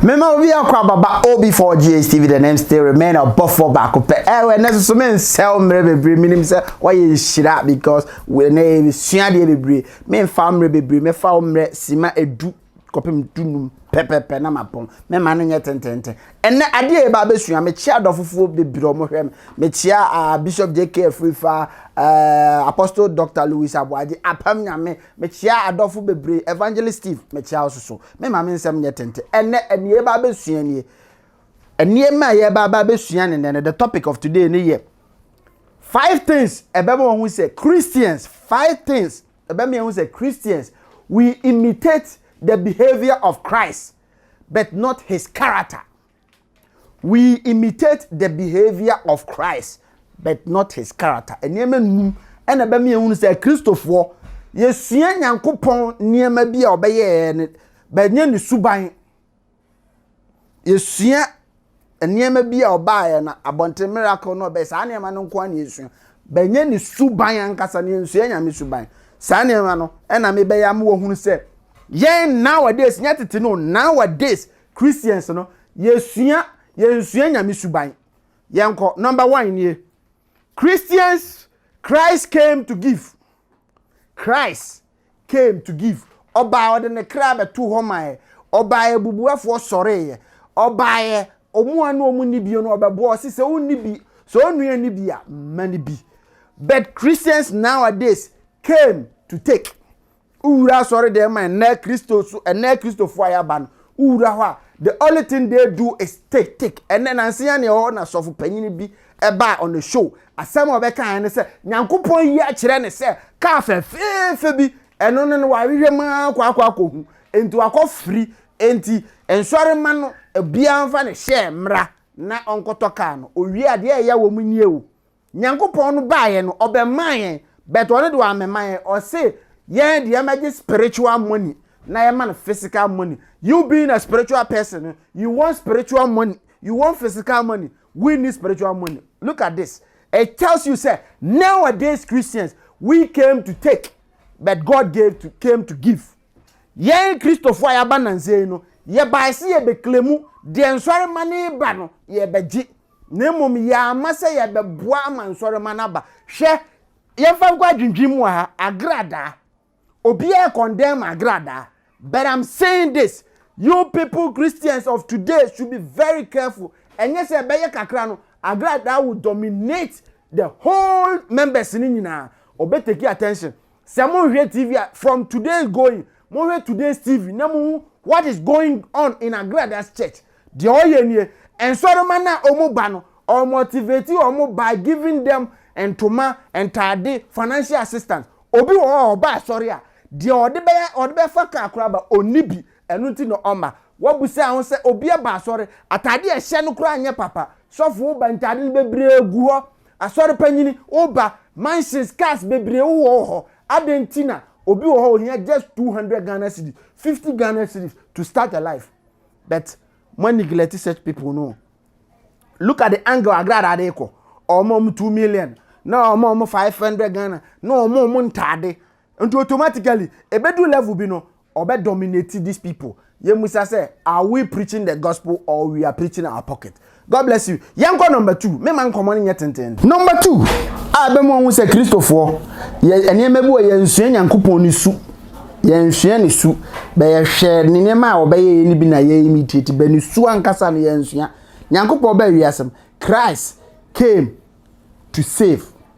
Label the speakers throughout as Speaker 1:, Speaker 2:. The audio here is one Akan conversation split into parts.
Speaker 1: Mema obi akɔ ababa OB4 GHTV the name still remain ɔbɔfoɔ baako pɛ ɛwɔ ɛnɛ soso me nsɛw mmerɛ bebree menim sɛ wɔyɛ nhyira because ɛnɛ sua deɛ bebree me mfa mmerɛ bebree mɛfa wo mmerɛ sima edu kɔpem dunum pɛpɛpɛ na mapɔn mɛma no nyɛ tententen ɛnɛ adeɛ yɛba abɛsua mekyia adɔfofoɔ bebree ɔmo hwɛ me mekyia uh, bishop jk afirifa uh, eh, apostle dr louis aboagye apam nyame Mekyea adɔfo bebree, Evangelist Steve, mekyea wo soso. Me ma me nsɛm nyɛ tenten. Ɛnɛ, ɛnea yɛba abɛsua nie. Nneɛma a yɛba aba abɛsua ne nnɛ no, the topic of today ne yɛ five things ɛbɛma wɔn ho sɛ Christians, five things ɛbɛma yɛn ho sɛ Christians, we imitate the behavior of Christ but not his character. We imitate the behavior of Christ but not his character. Nneɛma num ɛna ɛbɛma yɛhunu sɛ Kristofoɔ yɛsua Nyankopɔn nneɛma bi a ɔbɛyɛɛ no bɛnyɛ ne suban. Yɛsua nneɛma bi a ɔbaeɛ na abɔnten miracle no ɔbɛyɛ saa nneɛma no nko ara na yɛsua. Bɛnyɛ ne suban ankasa na yɛnsua Nyame suban. Saa nneɛma no ɛna mebɛyɛ ama wɔhunu sɛ yɛn nowadays nyɛ tete no nowadays Christians no, yɛsua, yɛnsua Nyame suban. Yɛnkɔ, number one nie. Christians, Christ came to give. Christ came to give. Ɔbaa ɔde ne kra bɛto hɔ maɛ. Ɔbaa abubuafoɔ sɔreeɛ. Ɔbaaɛ ɔmo a na ɔmo nni bi no ɔbɛboa ɔsi sɛ ɔnni bi sɛ ɔnua ni bi a mma ni bi. But Christians nowadays came to take. wowura asɔredan mu a ɛnɛ kristo so ɛnɛ kristofo a yɛaba no wowura hɔ a the only thing they do is take take ɛnɛ nanse yɛn na ɛwɔ hɔ na sɔfo panyin bi ɛbaa on the show asɛm a ɔbɛka yɛn ne sɛ nyankopɔn yi akyerɛ ne sɛ kaa fɛfɛɛfɛ bi ɛno no no wahwehwɛ mu akɔ akɔ akɔhu enti wakɔ firi enti nsɔre ma no obiara mfa ne hyɛ mmra na ɔnkɔtɔ kaa no owie adeɛ a ɛyɛ wɔ mu nie o Nyankopɔn no baa yɛn no ɔbɛmaa yɛn but ɔno de wammɛma yɛn ɔse yɛn de yɛmmɛgye spiritual money na yɛma no physical money you being a spiritual person no you want spiritual money you want physical money we need spiritual money look at this it tells you sɛ nowadays Christians we came to take but God gave to came to give yɛn Kristofo a yɛaba nansei no yɛbae se yɛbɛklemu deɛ nsɔre ma ne ba no yɛbɛgye na mmom yɛ ama sɛ yɛbɛboa ama nsɔremma no aba. Hwɛ, yɛmfa nkɔ adwendwen mu wɔ ha, agradaa. Obiara rekɔndɛm agradaa. But I'm saying this, you people Christians of today should be very careful. Ɛnyɛ sɛ ɛbɛyɛ kakra no, agradaa will dominate the whole members no nyinaa. Ɔbɛtake attention. Sɛ monhwɛ TV a, from today going, monhwɛ today's TV na mohu what is going on in Agrada's church. Deɛ ɔyɛ nie, nsɔrema no a wɔn ba no, ɔ motivate wɔn by giving them ntoma, ntaade, financial assistance. Obi wɔ hɔ a ɔba asɔre a, deɛ ɔde bɛyɛ ɔde bɛfa kaa koraa ba, ɔnni bi, ɛno nti na ɔmma. Woabisa ho sɛ obi aba asɔre, ataade a ɛhyɛ no koraa nyɛ papa, sɔfo woba ntaade no bebree gu hɔ. Asɔre panyin, wo ba, mansions, cars bebree wo wɔ hɔ, adɛn nti na obi wɔ hɔ ohia just 200 Ghana cedis, 50 Ghana cedis to start a life but mo a neglect such people no look at the angle agrada de kɔ, ɔmo a ɔmo 2 million, na ɔmo a ɔmo 500 Ghana, na ɔmo a ɔmo ntaade, Nti automatically ebedu level bi no ɔbɛ dominate these people yɛn musa sɛ are we preaching the gospel or we are preaching our pocket God bless you yɛn kɔ number two me ma nkɔmɔ no nyɛ tenten. Number two a ɛbɛ mu ɔhu sɛ kristofoɔ yɛ nneɛma bi wɔ yɛn nsua nyankopɔn ne su yɛn nsua ne su bɛ yɛ hwɛ ne nneɛma a ɔbɛyɛ yɛ ne bi na yɛ imitate bɛ ne su ankasa no yɛn nsua nyankopɔn bɛ wiasem Christ came to save.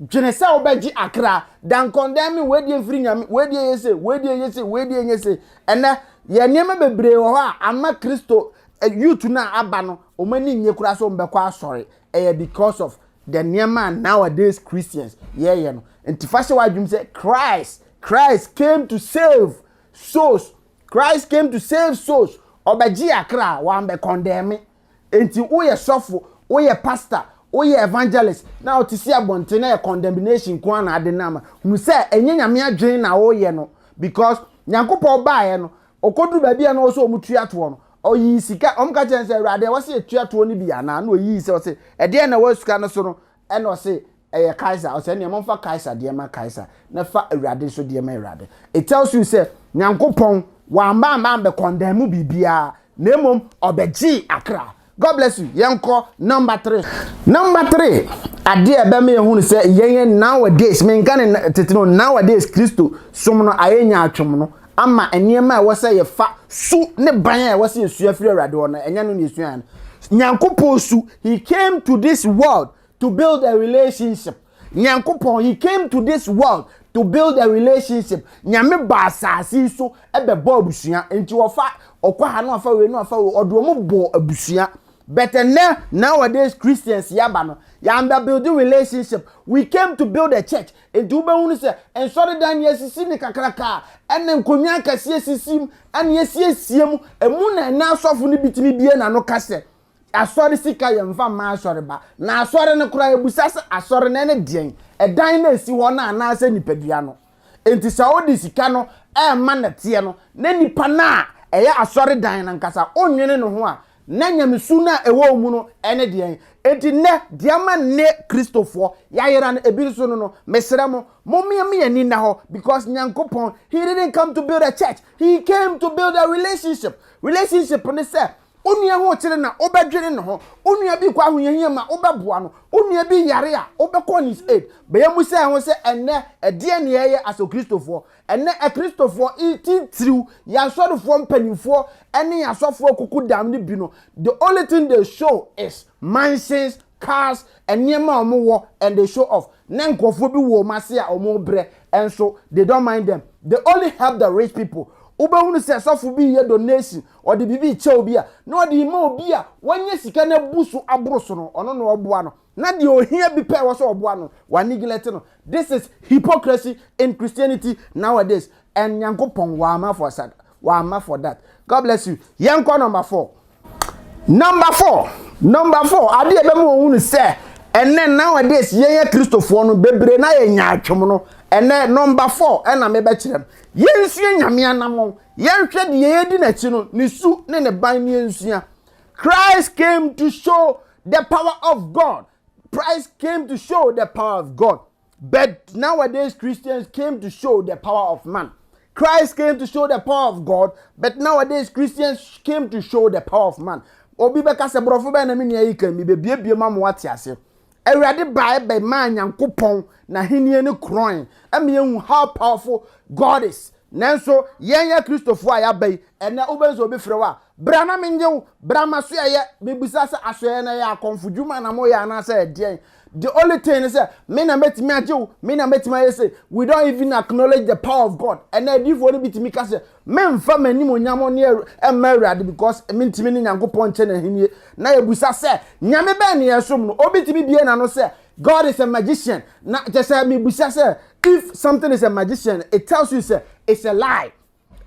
Speaker 1: dwene sɛ wobɛgye akra dankɔndɛn me wei deɛ mfiri nyame wei deɛ yɛ se wei deɛ yɛ se wei deɛ nyɛ se ɛnɛ yɛ nneɛma bebree wɔ hɔ a ama kristo eh, youth no a aba no wɔn ani nye koraa sɛ wɔbɛkɔ asɔre ɛyɛ because of the nneɛma a nowadays christians yɛyɛ no nti fa hyɛ w'adwene sɛ christ christ came to save souls christ came to save souls ɔbɛgye akra wɔn bɛ condemn me Enti woyɛ sɔfo, woyɛ pastor, woyɛ evangelist na wote si abɔnten na yɛ condemnation nko ara na ade no ama. Hu sɛ ɛnyɛ Nyame adwene na woyɛ no because Nyankopɔn baeɛ no, ɔkɔduru baabi a na ɔwɔ sɛ wɔn tua toɔ no, ɔyii sika, wɔn ka kyerɛ no sɛ Awurade ɛwɔ sɛ yɛtua toɔ no bi anaa? Na ɔyii sɛ ɔse ɛdeɛn na ɛwɔ sika no so no? ɛna ɔse ɛyɛ Kaesar ɔsɛ ɛneɛ momfa Kaesar deɛ ma Kaesar na fa Awurade nso deɛ ma Awurade it tells you sɛ Nyankopɔn wamba amba ambɛ kɔndɛmu biribiara na mmom ɔbɛgyee akra God bless you yɛnkɔ number three. Number three, adeɛ a ɛbɛma yɛhunu sɛ yɛn nowadays, menka ne tete no, nowadays Kristo som no ayɛ nyaatwom no, ama nneɛma a ɛwɔ sɛ yɛfa su ne ban a ɛwɔ sɛ yɛsua firi awurade hɔ no ɛnyɛ no na yɛsua no nyankopɔn su he came to this world to build a relationship nyankopɔn he came to this world to build a relationship nyame ba asase so ɛbɛbɔ abusua nti wɔfa ɔkɔ ha na ɔfa wei na ɔfa wei ɔde wɔn bɔ abusua but ɛnɛ nowadays christians yaba no yɛn bɛ build relationship we came to build a church Enti wobɛhunu sɛ nsɔredan no yɛasisi no kakraka a ɛna nkonnwa akɛseɛ sisi mu ɛna yɛasiesie mu. Ɛmu na ɛna asɔfo no bitumi bie n'ano ka sɛ, Asɔre sika yɛmfa mma asɔre ba. Na asɔre no koraa yɛbisa sɛ asɔre no ɛne deɛn? Ɛdan no a ɛsi hɔ no anaasɛ nipadua no? Enti sɛ wode sika no ɛrema nɛteɛ no na nipa no a ɛyɛ asɔredan no ankasa wonwene ne ho a Na nyamesu no a ɛwɔ wo mu no ne deɛn? Enti nnɛ, deɛ ama nnɛ Kristofoɔ yɛayera no ebi nso no no, mesrɛ mo, mommea mo ani nna hɔ, because Nyankopɔn, He didn't come to build a church, He came to build a relationship. Relationship ne sɛ, wo nua ho rekyere no a, wobɛdwene ne ho, wo nua bi rekɔ ahohiahia mu a, wobɛboa no, wo nua bi yare a, wobɛkɔ on his aid. Bɛyɛ mmusa yɛn ho sɛ, ɛnnɛ, ɛdeɛn na yɛyɛ as Okristofoɔ? Ɛnnɛ Akristofoɔ ntitiriw, yɛn asɔrefoɔ mpanimfoɔ ne yɛn asɔfoɔ kukudam no bi no, the only thing they show is mansions, cars, nneɛma a wɔwɔ and they show off. Na nkurɔfoɔ bi wɔ wɔn ase a wɔrebrɛ nso, they don't mind them. They only help the rich people. Wobɛhunu sɛ sɔfo bi reyɛ donation, ɔde biribi rekyɛ obi a, na ɔde rema obi a wanya sika na abu so aboro so no, ɔno na ɔreboa no. Na deɛ ohia bi pɛ ɛwɔ sɛ ɔboa no, wa neglect no. This is hypocrisy in Christianity nowadays and Nyankopɔn wamma for sa wamma for that. God bless you. Yɛnkɔ number four. Number four, number four, adeɛ ɛbɛma wɔn hu no sɛ ɛnɛ nowadays yɛn yɛ kristofoɔ no bebree na yɛ nya atwom no ɛnɛ number four ɛna mebɛkyerɛ no yɛnsua nyame anamɔn yɛnhwɛ deɛ yɛdi n'akyi no ne su ne ne ban ne yɛnsua Christ came to show The power of God. Christ came to show the power of God. But nowadays, Christians came to show the power of man. Christ came to show the power of God, but nowadays Christians came to show the power of man. Obi bɛka sɛ borɔfo bɛn na me nua yi kan mi bebiebie ma mo wate ase. Awurade bae bɛmaa Nyankopɔn n'ahenni no korɔn ɛma yɛhu how powerful God is. Nanso, yɛn yɛ Kristofo a yɛaba yi, ɛnnɛ wobɛhu sɛ obi frɛ wo a, bra na mennye wo, bra m'asoɛeɛ, mebisa sɛ asoɛeɛ no ɛyɛ akɔmfo dwuma na moyɛ anaasɛ ɛdeɛn. The only thing ne sɛ, me na mɛtumi agye wo, me na mɛtumi ayɛ sei. We don't even acknowledge the power of God. Ɛnna adiifoɔ no bi tumi ka sɛ, memfa m'animuonyam mma Awurade because mentumi ne Nyankopɔn nkyɛ n'ahennie. Na yɛbisa sɛ, Nyame bɛn na yɛsom no? Obi tumi bue n'ano sɛ, God is a magician. Na kyɛ sɛ mebisa sɛ if something is a magician, it tells you sɛ it's a lie.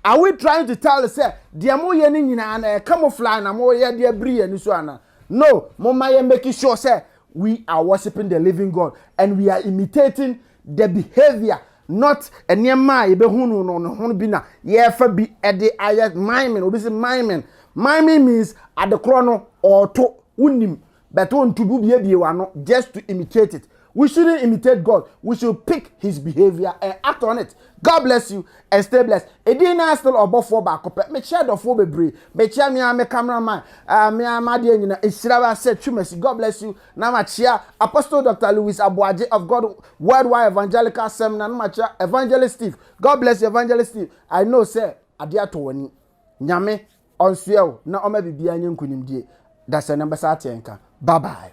Speaker 1: Are we trying to tell sɛ deɛ moyɛ no nyinaa na ɛka mo fly na moyɛ deɛ biri yɛn so ana? No, momma yɛ make sure sɛ we are worshiping the living God and we are imitating the behavior not nneɛma a yɛbɛhu no no no ho bi na yɛrefa bi de ayɛ miming obi sɛ miming miming means adekorɔ no ɔɔto wonim But wo nto bubiebie w'ano just to imitate it. We shouldn't imitate God. We should pick his behavior and act on it. God bless you and stay blessed. Edin naa still ɔbɔfoɔ baako pɛ. Mekyia dɔfoɔ bebree. Mekyia mea me cameraman. Uh, mea madeɛ nyina. Ehyira w'asɛ twumasi. God bless you. Na makyia Apostle Dr. Louis Aboagye of God Worldwide Evangelical Seminar. Na makyia Evangelist Steve. God bless you Evangelist Steve. I know sɛ adeɛ atɔ w'ani. Nyame Ɔnsoɛ o na ɔma biribiara nyɛ nkunimdie dasani na bɛsa ateɛ nka bye bye.